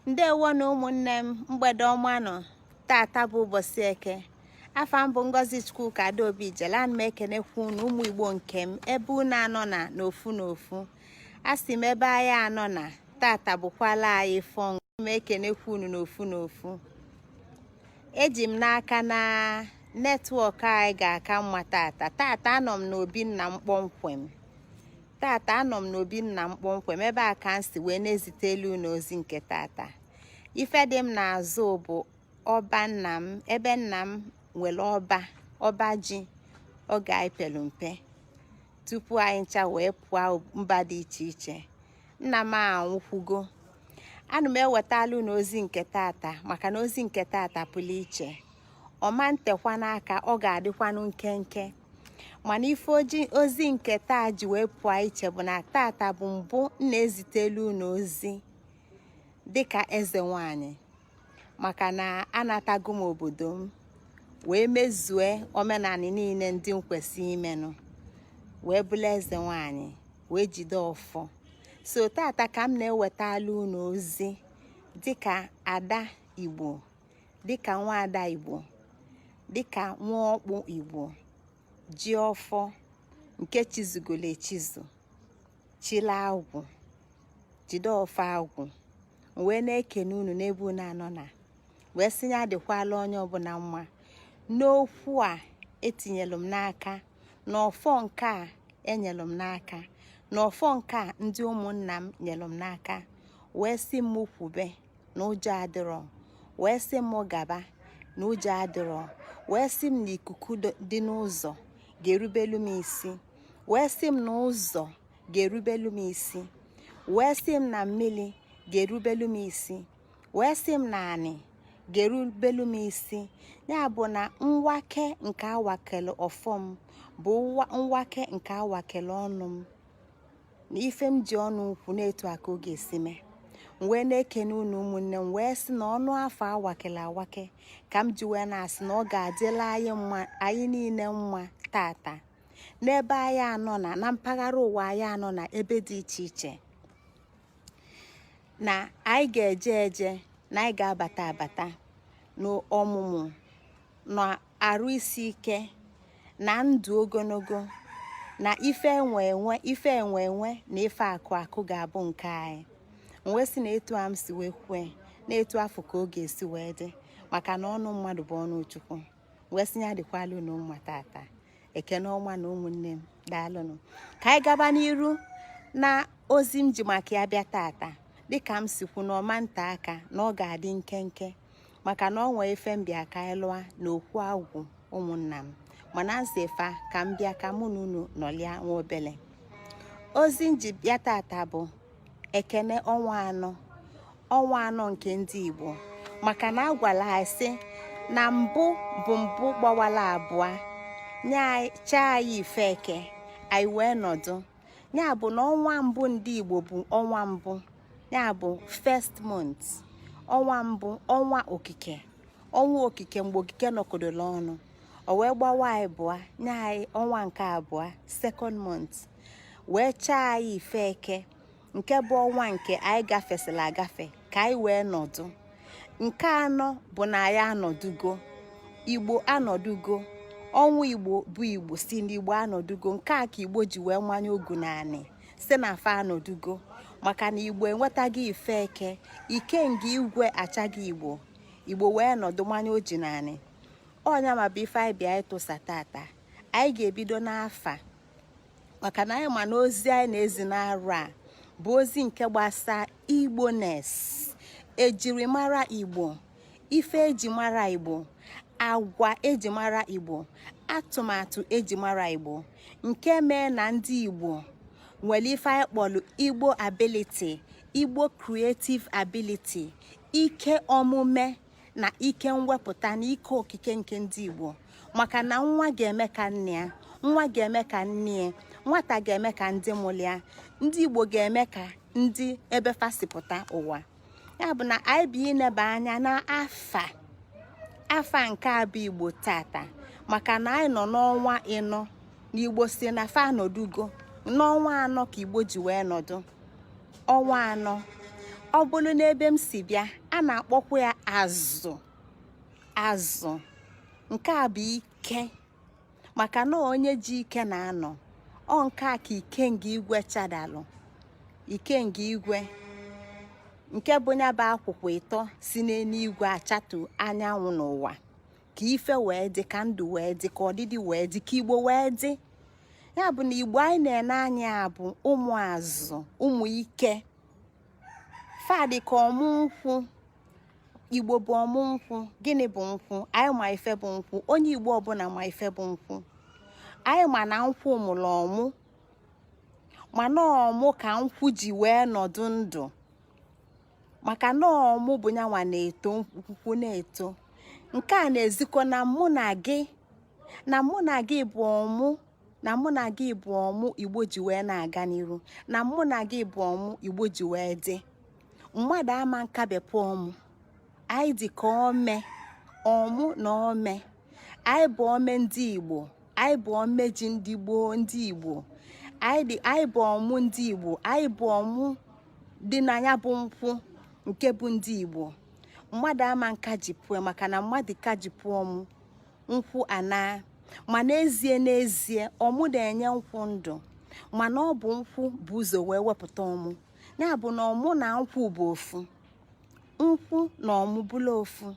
ndewo nụ ụmụnne m mgbede ọma nụ tata bụ ụbọchị eke afa m bụ ngozi chukwuka adaobijele ana m ekenekwu unu ụmụ igbo nke m ebe unu anọ na n'ofu n'ofu a sị m ebe anyị anọ na tata bụkwala anyị ọfọ ana m ekenekwu unu n'ofu n'ofu eji m n'aka na network anyị ga-aka mma tata tata anọ m n'obi nna m kpọmkwem tata anọ m n'obi nna m kpọmkwem ebe a ka m si wee na-ezitelu unu ozi nke tata ife dị m n'azụ bụ ọba nna m ebe nna m nwelu ọba ọba ji oge anyị pelu mpe tupu anyị ncha wee pụọ mba dị iche iche nna m anwụkwugo ana m ewetala unu ozi nke tata maka na ozi nke tata pụlụ iche ọ ma ntekwanụ aka ọ ga-adịkwanụ nkenke mana ife ozi nke taa ji wee pụọ iche bụ na tata bụ mbụ m na-ezitelu unu ozi dịka eze nwanyị maka na anatago m obodo m wee mezue omenanị niine ndị m kwesị imenụ wee bụla eze nwanyị wee jide ọfọ so tata ka m na-ewetala unu ozi dịka ada igbo dịka nwaada igbo dịka nwa ọkpụ igbo ji ọfọ nke chizugolo echizu chila agwụ jide ọfọ agwụ wee na-ekene unu n'ebe unu anọ na wee sị ya dịkwala onye ọbụna mma n'okwu a etinyelụ m n'aka na ọfọ nke a enyelụ m n'aka na ọfọ nke a ndị ụmụnna m nyelụ m n'aka wee sị m kwube na ụjọ adịrọ wee sị m gaba na ụjọ adịrọ wee sị m na ikuku dị n'ụzọ ga-erubelu m isi wee sị m na ụzọ ga-erubelu m isi wee sị m na mmili ga-erubelu m isi wee sị m na anị ga-erubelu m isi ya bụ na mwake nke awakele ọfọ m bụ mwake nke awakele ọnụ m na ife m ji ọnụ kwuo na etu a ka ọ ga-esi mee m wee na-ekene unu ụmụnne m wee sị na ọnụ ọfọ awakela awake ka m ji wee na-asị na ọ ga-adịla anyị niine mma tata n'ebe anyị anọ na na mpaghara ụwa anyị anọ na ebe dị iche iche na anyị ga-eje eje na anyị ga-abata abata n'ọmụmụ na arụ isi ike na ndụ ogologo na ife enwe enwe ife enwe enwe na ife akụ akụ ga-abụ nke anyị wee sị na etu a m si wee kwue na etu afụ ka ọ ga-esi wee dị maka na ọnụ mmadụ bụ ọnụ chukwu wee sị ya dịkwalụ unu mma tata ekene ọnwa anọ ụmụnne m daalụnụ ka anyị gaba n'iru na ozi m ji maka ya bịa tata dịka m si kwu na ọ ma-ete aka na ọ ga-adị nkenke maka na ọ nwee ife m bịa ka anyị lụọ na okwu agwụ ụmụnna m mana m sị fa ka m bịa ka mụ na unu nọlịa nwa obele ozi m ji bịa tata bụ ekene ọnwa anọ ọnwa anọ nke ndị Igbo maka na a gwala anyị sị na mbụ bụ mbụ gbawala abụa nye anyị chaa anyị ife eke anyị wee nọdụ ya bụ na ọnwa mbụ ndị Igbo bụ ọnwa mbụ ya bụ first month ọnwa mbụ ọnwa okike ọnwa okike mgbe okike nọkọdola ọnụ o wee gbawa ịbụa nye anyị ọnwa nke abụa second month wee chaa anyị ife eke nke bụ ọnwa nke anyị gafesịla agafe ka anyị wee nọdụ nke anọ bụ na anyị anọdụgo igbo anọdụgo ọnwa igbo bụ igbo sị na igbo anọdụgo nke a ka igbo ji wee manye ogu n'anị sị na fa anọdụgo maka na igbo enwetaghị ife eke ikenga igwe achaghị igbo igbo wee nọdụ manye oji n'anị ọ nya nwa bụ ife anyị bịa ịtụsa tata anyị ga-ebido n'afa maka na anyị ma na ozi anyị na-ezi n'arọ a bụ ozi nke gbasa igboness ejirimara igbo ife ejimara igbo agwa ejimara igbo atụmatụ ejimara igbo nke mee na ndị igbo nwelụ ife anyị kpọlụ igbo ability igbo creative ability ike omume na ike mwepụta na ike okike nke ndị Igbo maka na nwa ga-eme ka nna ya nwa ga-eme ka nne ya nwata ga-eme ka ndị mụlụ ya ndị Igbo ga-eme ka ndị ebe fa si pụta ụwa ya bụ na anyị bịa ineba anya na afa afa nke a bụ Igbo tata maka na anyị nọ n'ọnwa ịnọ na Igbo sị na fa anọdụgo n'ọnwa anọ ka Igbo ji wee nọdụ ọnwa anọ ọ bụlụ n'ebe m si bịa a na-akpọkwu ya azụ azụ nke a bụ ike maka na onye ji ike na-anọ ọ nke a ka ikenga igwe chadalụ ikenga igwe nke bụ nya bụ akwụkwa ịtọ si n'enuigwe achatu anyanwụ n'ụwa ka ife wee dị ka ndụ wee dị ka ọdịdị wee dị ka igbo wee dị ya bụ na igbo anyị na-ene anya ya bụ ụmụ azụ ụmụ ike fa dị ka ọmụ nkwụ igbo bụ ọmụ nkwụ gịnị bụ nkwụ anyị ma ife bụ nkwụ onye igbo ọbụna ma ife bụ nkwụ anyị ma na nkwụ mụrụ ọmụ mana ọmụ ka nkwụ ji wee nọdụ ndụ maka na ọmụ bụ nya nwa na-eto nkwụ nkwụ na-eto nke a na-ezikọ na mụ na gị na mụ na gị bụ ọmụ na mụ na gị bụ ọmụ igbo ji wee na-aga n'iru na mụ na gị bụ ọmụ igbo ji wee dị mmadụ ama nkabepụ ọmụ anyị dị ka ome ọmụ na ome anyị bụ ome ndị igbo anyị bụ ome ji ndị gboo ndị igbo anyị bụ ọmụ ndị igbo anyị bụ ọmụ dị na ya bụ nkwụ nke bụ ndị Igbo mmadụ ama nkajipụọ maka na mmadụ kajipụọ ọmụ nkwụ anaa ma n'ezie n'ezie ọmụ na-enye nkwụ ndụ mana ọ bụ nkwụ bu ụzọ wee wepụta ọmụ ya bụ na ọmụ na nkwụ bụ ofu nkwụ na ọmụ bụla ofu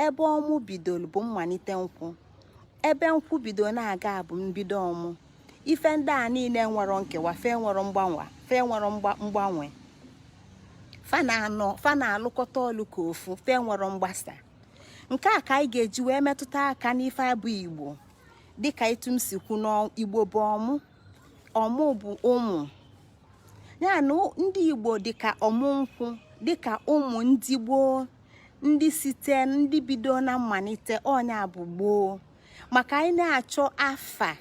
ebe ọmụ bidoro bụ mmanite nkwụ ebe nkwụ bido na-aga bụ mbido ọmụ ife ndị a nine enwerọ nkewa fa enwerọ mgbanwe fa enwerọ mgbanwe fa na-alụkọta ọlụ ka ofu fa enwerọ mgbasa nke a ka anyị ga-eji wee metụta aka n'ife a bụ igbo dịka etu m si kwu na igbo bụ ọmụ ọmụ bụ ụmụ ya na ndị igbo dịka ọmụ nkwụ dịka ụmụ ndị gboo ndị site ndị bido na mmanite ọ nya bụ gboo maka anyị na-achọ afa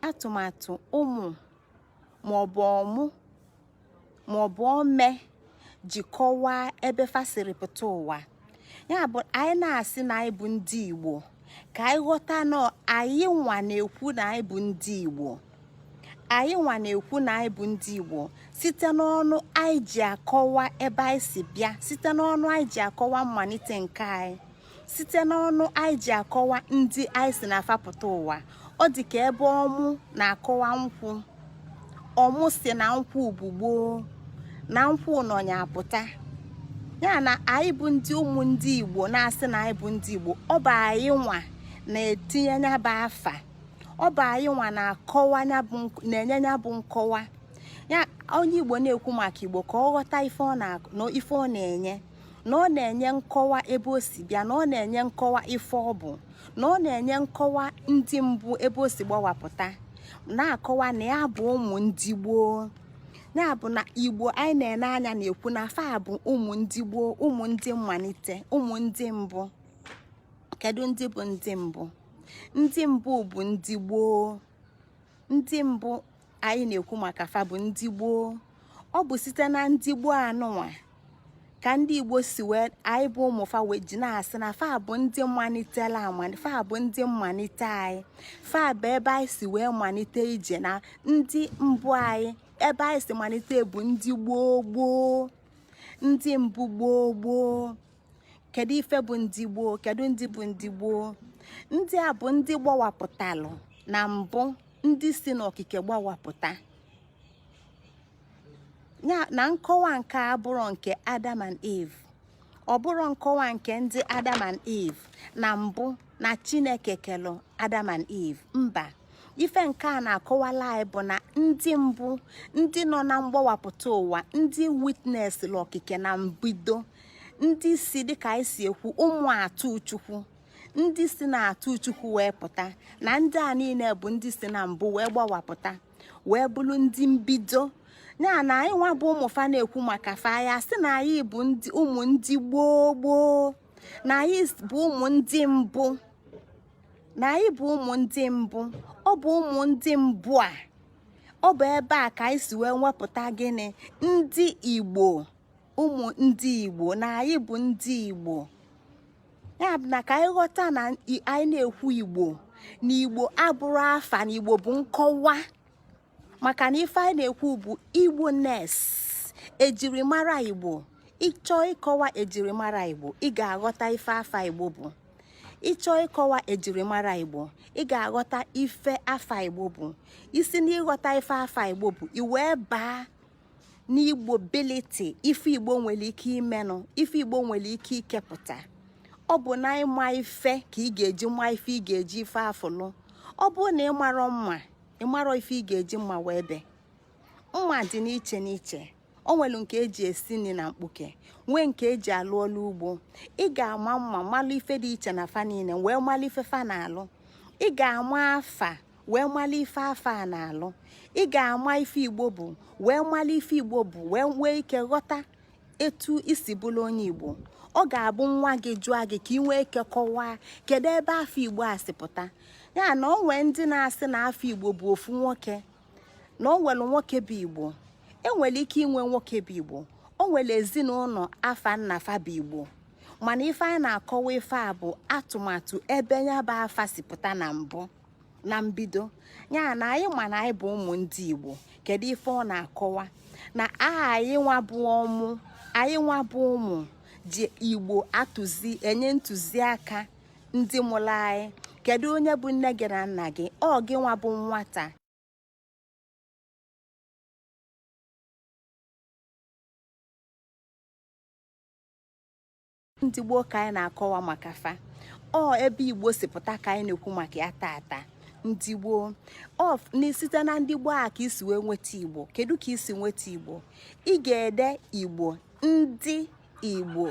atụmatụ ụmụ maọbụ ọmụ maọbụ ome ji kọwaa ebe fa siri pụta ụwa ya bụ anyị na-asị na anyị bụ ndị Igbo ka anyị ghọta na anyị nwa na-ekwu na anyị bụ ndị Igbo anyị nwa na-ekwu na anyị bụ ndị Igbo site n'ọnụ anyị ji akọwa ebe anyị si bịa site n'ọnụ anyị ji akọwa mmanite nke anyị site n'ọnụ anyị ji akọwa ndị anyị si na fa pụta ụwa ọ dị ka ebe ọmụ na-akọwa nkwụ ọmụ sị na nkwụ bụ gboo na nkwụ nọ nya apụta ya na anyị bụ ndị ụmụ ndị Igbo na-asị na anyị bụ ndị Igbo ọ bụ anyị nwa na-etinye nya bụ afa ọ bụ anyị nwa na-akọwa na-enye ya bụ nkọwa ya onye igbo na-ekwu maka igbo ka ọ ghọta ife ọ na-enye na ọ na-enye nkọwa ebe o si bịa na ọ na-enye nkọwa ife ọ bụ na ọ na-enye nkọwa ndị mbụ ebe o si gbawapụta na-akọwa na ya bụ ụmụ ndị gboo ya bụ na igbo anyị na-ene anya na-ekwu na fa bụ ụmụ ndị gboo ụmụ ndị mmalite ụmụ ndị mbụ kedu ndị bụ ndị mbụ ndị mbụ bụ ndị gboo ndị mbụ anyị na-ekwu maka fa bụ ndị gboo ọ bụ site na ndị gboo anụnwa ka ndị igbo si wee anyị bụ ụmụ fa wee ji na-asị na fa bụ ndị malitela amali fa bụ ndị mmalite anyị fa bụ ebe anyị si wee malite ije na ndị mbụ anyị ebe anyị si malite bụ ndị gboo gboo ndị mbụ gboo gboo kedu ife bụ ndị gboo kedu ndị bụ ndị gboo ndị a bụ ndị gbawapụtalụ na mbụ ndị si n'okike gbawapụta ya na nkọwa nke abụrọ nke adam and eve ọ bụrọ nkọwa nke ndị adam and eve na mbụ na chineke kelụ adam and eve mba ife nke a na-akọwalụ anyị bụ na ndị mbụ ndị nọ na mgbawapụta ụwa ndị witness okike na mbido ndị si dịka anyị si ekwu ụmụ atụ chukwu ndị si na atụ chukwu wee pụta na ndị a niile bụ ndị si na mbụ wee gbawapụta wee bụrụ ndị mbido ya na anyị nwa bụ ụmụ fa na-ekwu maka fa ya sị na anyị bụ ụmụ ndị gboo gboo na anyị bụ ụmụ ndị mbụ na anyị bụ ụmụ ndị mbụ ọ bụ ụmụ ndị mbụ a ọ bụ ebe a ka anyị si wee nwepụta gịnị ndị igbo ụmụ ndị igbo na anyị bụ ndị igbo ya bụ na ka anyị ghọta na anyị na-ekwu igbo na igbo abụrọ afa na igbo bụ nkọwa maka na ife anyị na-ekwu bụ igboness ejirimara igbo ị chọọ ịkọwa ejirimara igbo ị ga-aghọta ife afa igbo bụ ị chọọ ịkọwa ejirimara igbo ị ga-aghọta ife afa igbo bụ i si n'ịghọta ife afa igbo bụ i wee baa n'igbobility ife igbo nwelụ ike imenụ ife igbo nwere ike ikepụta ọ bụ na ịma ife ka ị ga-eji ma ife ị ga-eji ife afụ lụ ọ bụrụ na ị marọ mma ị marọ ife ị ga-eji mma wee bee mma dị n'iche n'iche o nwelụ nke eji esi nni na mkpuke nwee nke eji alụ ọlụ ugbo ị ga-ama mma malụ ife dị iche na fa niine wee malụ ife fa na-alụ ị ga-ama afa wee malụ ife afa a na-alụ ị ga-ama ife igbo bụ wee malụ ife igbo bụ wee nwee ike ghọta etu i si bụrụ onye igbo ọ ga-abụ nwa gị jụọ gị ka ị nwee ike kọwaa kedu ebe afa igbo a si pụta ya na ọ nwee ndị na-asị na afa igbo bụ ofu nwoke na ọ nwere nwoke bụ igbo enwere ike inwe nwoke bụ igbo o nwere ezinụnọ afa nna fa bụ igbo mana ife anyị na-akọwa ife a bụ atụmatụ ebe ya bụ afa si pụta na mbụ na mbido ya na anyị ma na anyị bụ ụmụ ndị Igbo kedu ife ọ na-akọwa na anyị nwa bụ ụmụ anyị nwa bụ ụmụ ndị Igbo atụzi enye ntụziaka ndị mụrụ anyị kedu onye bụ nne gị na nna gị ọ gị nwa bụ nwata ndị gboo ka anyị na-akọwa maka fa ọ ebe igbo si pụta ka anyị na-ekwu maka ya tata ndị gboo ọ bụ site na ndị gboo a ka e si wee nweta igbo kedu ka e si nweta igbo ị ga-ede igbo ndị igbo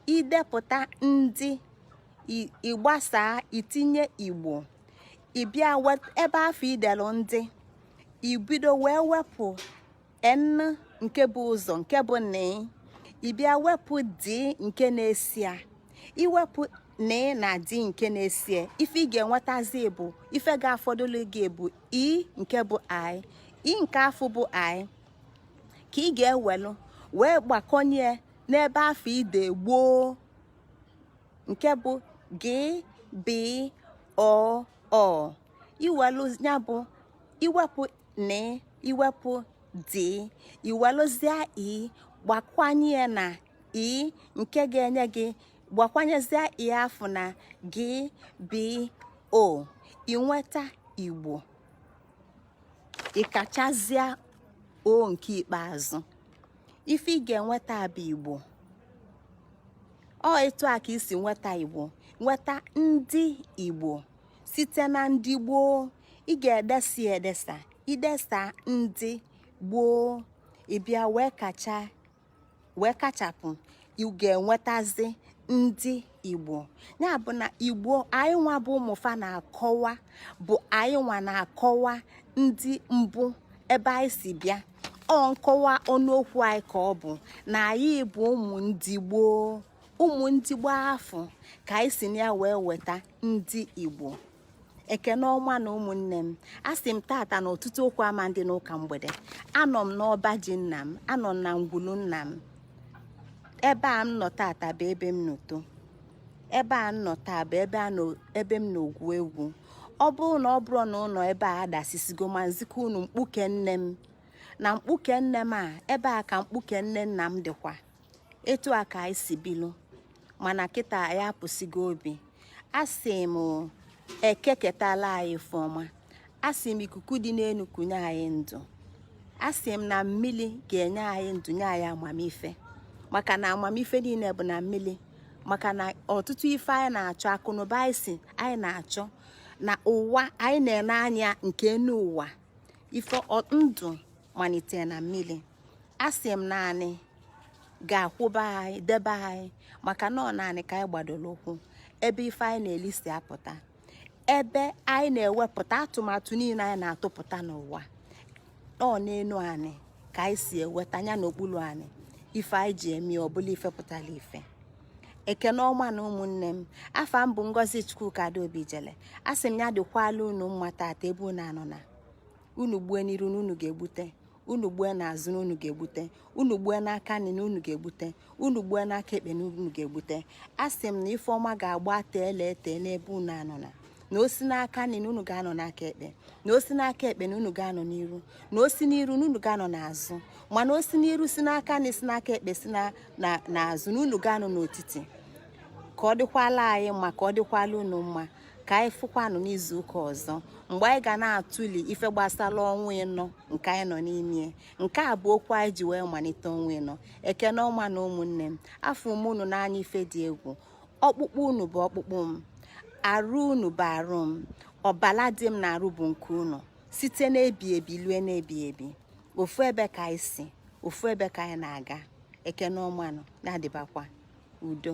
i depụta ndị ị gbasaa i tinye igbo ị bịa ebe afụ i delu ndị i bido wee wepụ n nke bu ụzọ nke bụ n ị bịa wepụ d nke na-eso ya i wepụ n na d nke na-eso ya ife ị ga-enwetazi bụ ife ga-afọdụlụ gị bụ i nke bụ i i nke afụ bụ i ka ị ga-ewelụ wee gbakọnye n'ebe afụ i de gboo nke bụ g b o o i welụ ya bụ i wepụ n i wepụ d i welụzie i gbakwanye ya na i nke ga-enye gị gbakwanyezie i afụ na g b o i nweta igbo ị kachazịa o nke ikpeazụ ife ị ga-enweta bụ igbo ọ etu a ka e si nweta igbo nweta ndị igbo site na ndị gboo ị ga-edesa edesa i desa ndị gboo ị bịa wee kacha wee kachapụ ị ga-enwetazi ndị igbo ya bụ na igbo anyị nwa bụ ụmụ fa na-akọwa bụ anyị nwa na-akọwa ndị mbụ ebe anyị si bịa ọ nkọwa ọnụokwu anyị ka ọ bụ na anyị bụ ụmụ ndị gboo ụmụ ndị gboo afụ ka anyị si na ya wee weta ndị igbo ekene ọmanụ ụmụnne m asị m tata na ọtụtụ okwu ama dị n'ụka mgbede anọ m n'ọba ji nna m anọ m na ngwulu nna m ebe a m nọ tata bụ ebe m nọ too ebe a m nọ taa bụ ebe m nọ gwuo egwu ọ bụrụ na ọ bụrọ na ụnọ ebe a dasisigo ma m zikọ unu mkpuke nne m na mkpuke nne m a ebe a ka mkpuke nne nna m dịkwa etu a ka anyị si bilu mana kịta anyị apụsigo obi asị m eke ketala anyị ife ọma asị m ikuku dị n'enu kunye anyị ndụ asị m na mmili ga-enye anyị ndụ nye anyị amamife maka na amamife niine bụ na mmili maka na ọtụtụ ife anyị na-achọ akụnụba anyị si anyị na-achọ na ụwa anyị na-ene anya nke enu ụwa ife ndụ manite na mmili asị m na anị ga-akwụba anyị debe anyị maka na ọ n'anị ka anyị gbadolu ụkwụ ebe ife anyị na-eli si apụta ebe anyị na-ewepụta atụmatụ niine anyị na-atụpụta n'ụwa ọ n'enu anị ka anyị si eweta ya n'okpuru anị ife anyị ji eme ọbụla ife pụtara ife ekene ọmanụ ụmụnne m afa m bụ ngozi chukwuka adaobi jele asị m ya dịkwala unu mma tata ebe unu anọ na unu gbue n'iru na unu ga-egbute unu gbue n'azụ na unu ga-egbute unu gbue n'aka nri na unu ga-egbute unu gbue n'aka ekpe na unu ga-egbute asị m na ife ọma ga-agba teele ete n'ebe unu anọna na o si n'aka nri na unu ga-anọ n'aka ekpe na o si n'aka ekpe na unu ga-anọ n'iru na o si n'iru na unu ga-anọ n'azụ mana o si n'iru si n'aka nri si n'aka ekpe si n'azụ na unu ga-anọ n'otiti ka ọ dịkwala anyị mma ka ọ dịkwala unu mma ka anyị fụkwanụ n'izu ụka ọzọ mgbe anyị ga na-atụli ife gbasara ọnwa ịnọ nke anyị nọ n'ime nke a bụ okwu anyị ji wee manite ọnwa ịnọ ekene ọmanụ ụmụnne m afụ m unu n'anya ife dị egwu ọkpụkpụ unu bụ ọkpụkpụ m arụ unu bụ arụ m ọbala dị m na arụ bụ nke unu site n'ebi ebi lue n'ebi ebi ofu ebe ka anyị si ofu ebe ka anyị na-aga ekene ọmanụ na-adịbakwa udo